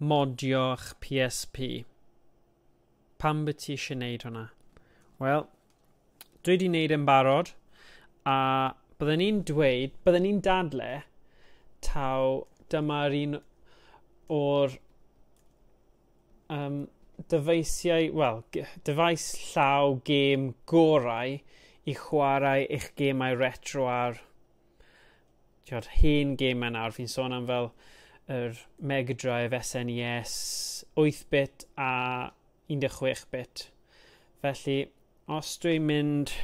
modio'ch PSP. Pam by ti eisiau gwneud hwnna? Wel, dwi wedi gwneud yn barod, a byddwn ni'n dweud, byddwn ni'n dadle, taw dyma'r un o'r um, dyfeisiau, wel, dyfais llaw gêm gorau i chwarae eich gemau retro ar Tio'r hen gemau nawr, fi'n sôn am fel yr Mega Drive, SNES, 8-bit a 16-bit. Felly, os dwi'n mynd...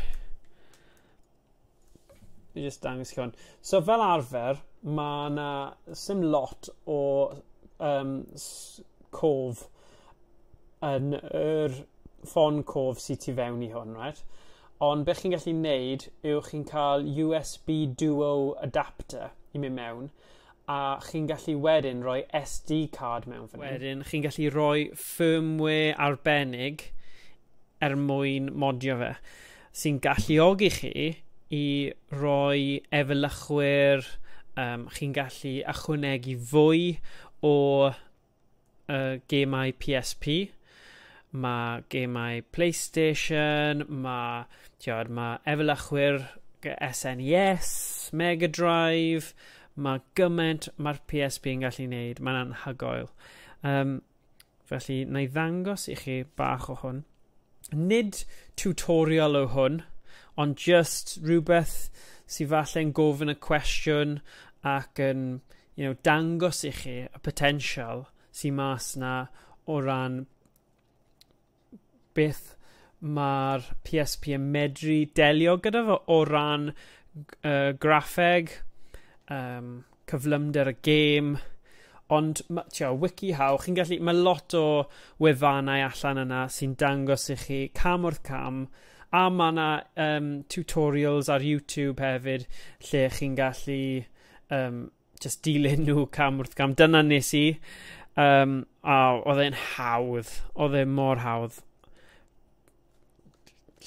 Fi jyst dangos chi hwn. So fel arfer, mae yna sim lot o um, cof yn yr ffon cof sydd tu fewn i hwn, right? Ond beth chi'n gallu neud yw chi'n cael USB Duo adapter i mynd mewn a chi'n gallu wedyn rhoi SD card mewn fan Wedyn chi'n gallu rhoi firmware arbennig er mwyn modio fe sy'n galluogi chi i roi efelychwyr um, chi'n gallu ychwanegu fwy o uh, gemau PSP, mae gemau PlayStation, mae, tiod, mae efelychwyr SNES, e Mega Drive, mae gymaint mae'r PSP yn gallu wneud, mae'n anhygoel. Um, felly, na i ddangos i chi bach o hwn. Nid tutorial o hwn, ond just rhywbeth sy'n falle'n gofyn y cwestiwn ac yn you know, dangos i chi y potensial sy'n mas na o ran beth mae'r PSP yn medru delio gyda fo o ran uh, graffeg, um, cyflymder y gêm, ond tio, WikiHow, chi'n gallu, mae lot o wefannau allan yna sy'n dangos i chi cam wrth cam, a mae yna um, tutorials ar YouTube hefyd lle chi'n gallu um, just dilyn nhw cam wrth cam. Dyna nes i. Um, a oedd e'n hawdd. Oedd e'n mor hawdd.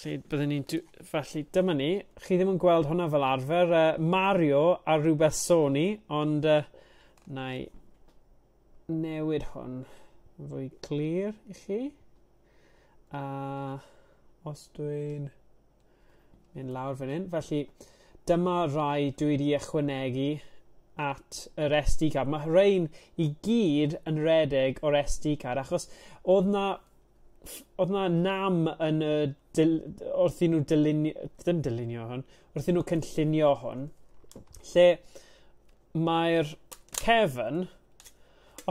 Lle byddwn ni'n... Felly, dyma ni. Chi ddim yn gweld hwnna fel arfer. Uh, Mario a rhywbeth Sony, ond uh, na i newid hwn fwy clir i chi. A os dwi'n mynd lawr fan hyn, felly dyma rai dwi wedi ychwanegu at yr SD card. Mae rhain i gyd yn redeg o'r SD card achos oedd na oedd na nam yn y dil, wrth i nhw dylunio, ddim dylunio hwn, wrth i nhw cynllunio hwn, lle mae'r cefn,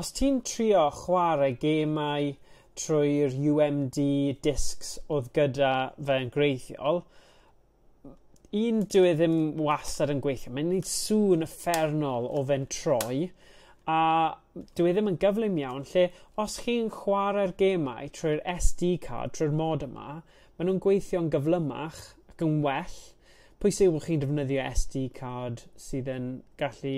os ti'n trio chwarae gemau trwy'r UMD discs oedd gyda fe yn greithiol, un dwi e ddim wastad yn gweithio. Mae'n gwneud sŵn ffernol o fe'n troi, a dwi e ddim yn gyflym iawn, lle os chi'n chwarae'r gemau trwy'r SD card, trwy'r mod yma, maen nhw'n gweithio'n gyflymach ac yn well, pwysig yw bod chi'n defnyddio SD card sydd yn gallu,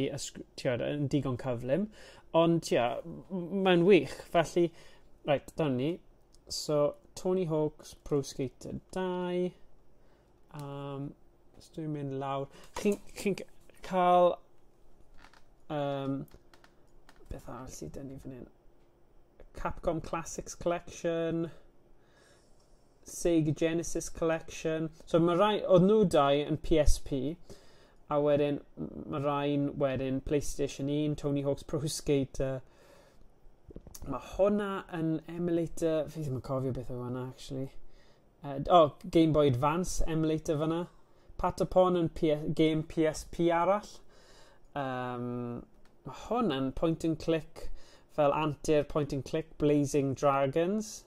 tiod, yn digon cyflym. Ond, tia, mae'n wych. Felly, right, dyna ni. So, Tony Hawk's Pro Skater 2. Um, so dwi'n mynd lawr. Chi'n chi cael... Um, beth arall sydd dyn ni fan hyn? Capcom Classics Collection. Sega Genesis Collection. So mae rai, oedd nhw dau yn PSP, a wedyn mae rhai'n wedyn PlayStation 1, Tony Hawk's Pro Skater. Mae hwnna yn emulator, fi ddim yn cofio beth oedd hwnna actually. Uh, oh, Game Boy Advance emulator fyna. Patapon yn PS, game PSP arall. Um, mae hwn yn point and click fel antur point and click Blazing Dragons.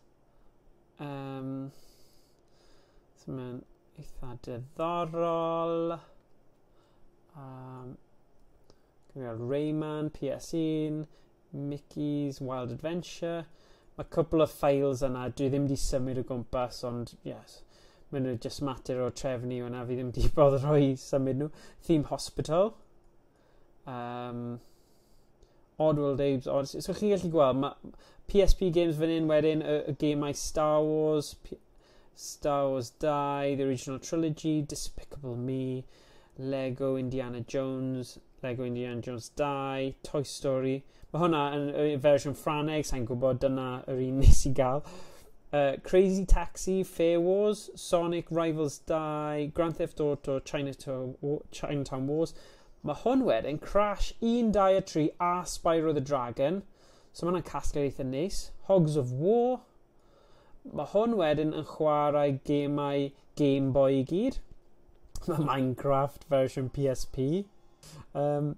Um, so mae'n eitha diddorol. Um, Gyda'r Rayman, PS1, Mickey's Wild Adventure. Mae cwbl o files yna, dwi ddim wedi symud o gwmpas, ond yes, maen nhw just mater o trefnu yna, fi ddim wedi bod rhoi symud nhw. Theme Hospital, Um, Oddworld Apes Odyssey. So chi'n gallu gweld, mae PSP games fan hyn wedyn, y, y gemau Star Wars, P Star Wars 2, The Original Trilogy, Despicable Me, Lego Indiana Jones, Lego Indiana Jones 2, Toy Story. Mae hwnna yn y fersiwn Ffraneg, sa'n gwybod, dyna yr un nes i gael. Uh, Crazy Taxi, Fair Wars, Sonic Rivals 2, Grand Theft Auto, Chinatown, Chinatown Wars. Mae hwn wedyn, Crash 1, 2 a 3 a Spyro the Dragon. So mae hwnna'n casglu eitha neis. Hogs of War. Mae hwn wedyn yn chwarae gemau Game Boy i gyd. Mae Minecraft version PSP. Um,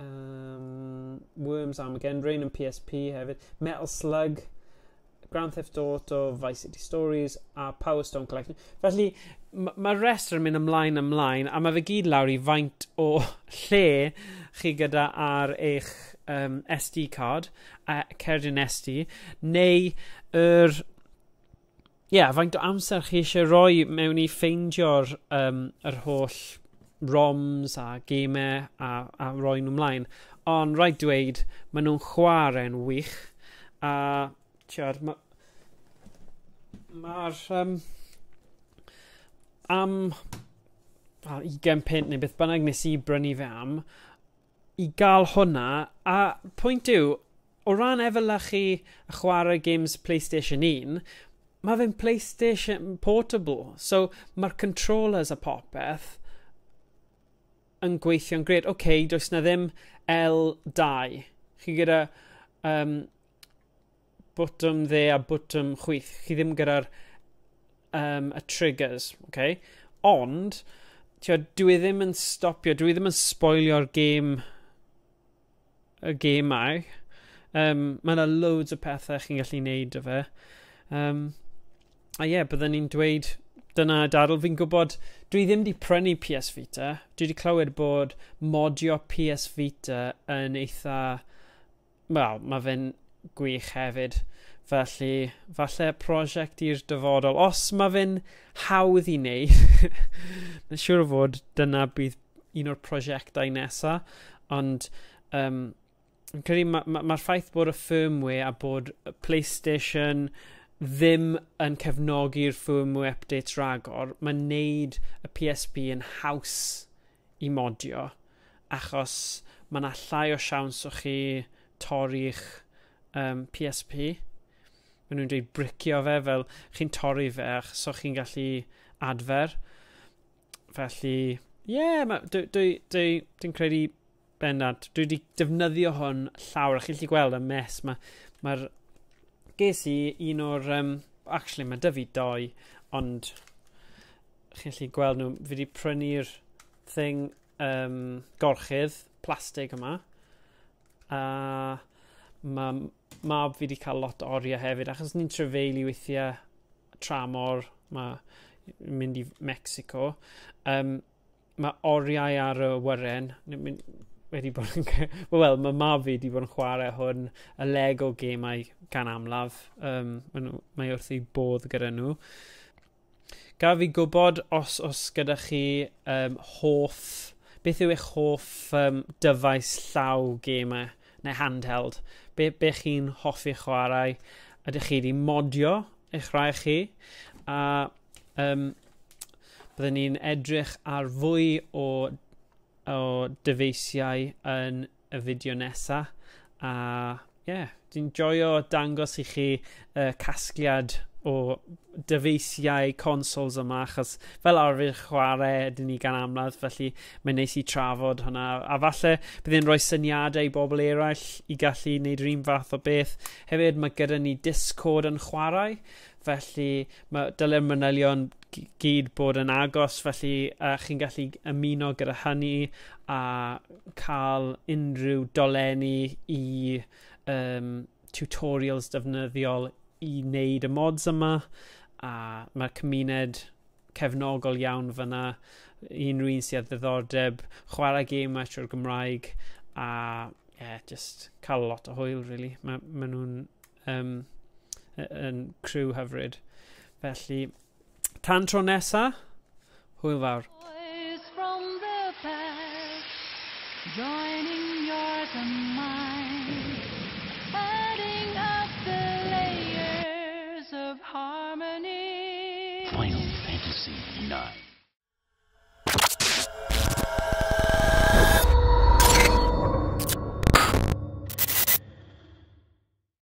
Um, Worms Armageddon Rain yn PSP hefyd. Metal Slug, Grand Theft Auto, Vice City Stories a Power Stone Collection. Felly, mae'r ma rest yn mynd ymlaen ymlaen a mae fe gyd lawr i faint o lle chi gyda ar eich um, SD card, a cerdyn SD, neu yr er Ie, yeah, faint o amser chi eisiau rhoi mewn i ffeindio'r um, yr holl roms a gemau a, a roi nhw mlaen. Ond rhaid dweud, maen nhw'n chwarae'n wych. A, tiwr, mae'r... Ma um, am well, 20 pint neu beth bynnag nes i brynu fe am, i gael hwnna, a pwynt yw, o ran efelychu a chwarae games Playstation 1, mae fe'n Playstation portable, so mae'r controllers a popeth yn gweithio'n gred. Oce, okay, does na ddim L2. Chi gyda um, botwm dde a botwm chwith. Chi ddim gyda'r um, y triggers, okay? Ond, tio, dwi e ddim yn stopio, dwi e ddim yn spoilio'r gêm y gemau. Um, mae yna loads o pethau chi'n gallu neud o fe. Um, a ie, yeah, byddwn ni'n dweud dyna dadl. Fi'n gwybod, dwi ddim wedi prynu PS Vita. Dwi wedi clywed bod modio PS Vita yn eitha wel, mae fe'n gwych hefyd. Felly, falle prosiect i'r dyfodol. Os mae fe'n hawdd i wneud, mae'n siŵr o fod dyna bydd un o'r prosiectau nesaf. Ond, um, yn credu, mae'r ma, ma ffaith bod y firmware a bod y PlayStation ddim yn cefnogi'r firmware updates ragor, mae'n neud y PSP yn haws i modio achos mae 'na llai o siawns o chi torri'ch um, PSP. Mae nhw'n dweud bricio fe fel chi'n torri fe achos so chi'n gallu adfer. Felly, ie, yeah, dwi'n dwi, dwi, dwi credu Bendant. Dwi wedi defnyddio hwn llawer. Chi'n gallu gweld y mes. Mae'r... Ma, ma ges i un o'r... Um, actually, mae dyfu doi, ond chi'n gallu gweld nhw. Fi wedi prynu'r thing um, gorchydd plastig yma. A uh, mae mab fi wedi cael lot o oriau hefyd, achos ni'n trefeili weithiau tramor, mae mynd i Mexico. Um, mae oriau ar y wyren. Mae'n wedi bod yn... Wel, mae mab fi wedi bod yn chwarae hwn y Lego gemau gan amlaf. Um, mae wrth ei bodd gyda nhw. Gaf fi gwybod os os gyda chi um, hoff... Beth yw eich hoff um, dyfais llaw gemau neu handheld? Be, be chi'n hoffi chwarae? Ydych chi wedi modio eich rhai chi? A um, Byddwn ni'n edrych ar fwy o o dyfeisiau yn y fideo nesa a ie yeah, dwi'n joio dangos i chi uh, casgliad o dyfeisiau consoles yma achos fel arfer chwarae ydyn ni gan amlad felly mae'n neis i trafod hwnna a falle bydd e'n rhoi syniadau i bobl eraill i gallu wneud yr un fath o beth hefyd mae gyda ni Discord yn chwarae Felly, mae, dylai'r manylion gyd bod yn agos, felly uh, chi'n gallu ymuno gyda hynny a cael unrhyw dolenni i um, tutorials defnyddiol i wneud y mods yma, a mae'r cymuned cefnogol iawn fyna, unrhyw un sydd â ddiddordeb, chwarae gêm trwy'r Gymraeg, a yeah, just cael lot o hwyl, really. Mae, ma nhw'n Yym, y- yn criw hyfryd. Felly, tan tro nesa, hwyl fawr. Boys from the past Joining yours and mine Adding up the layers of harmony Final Fantasy IX.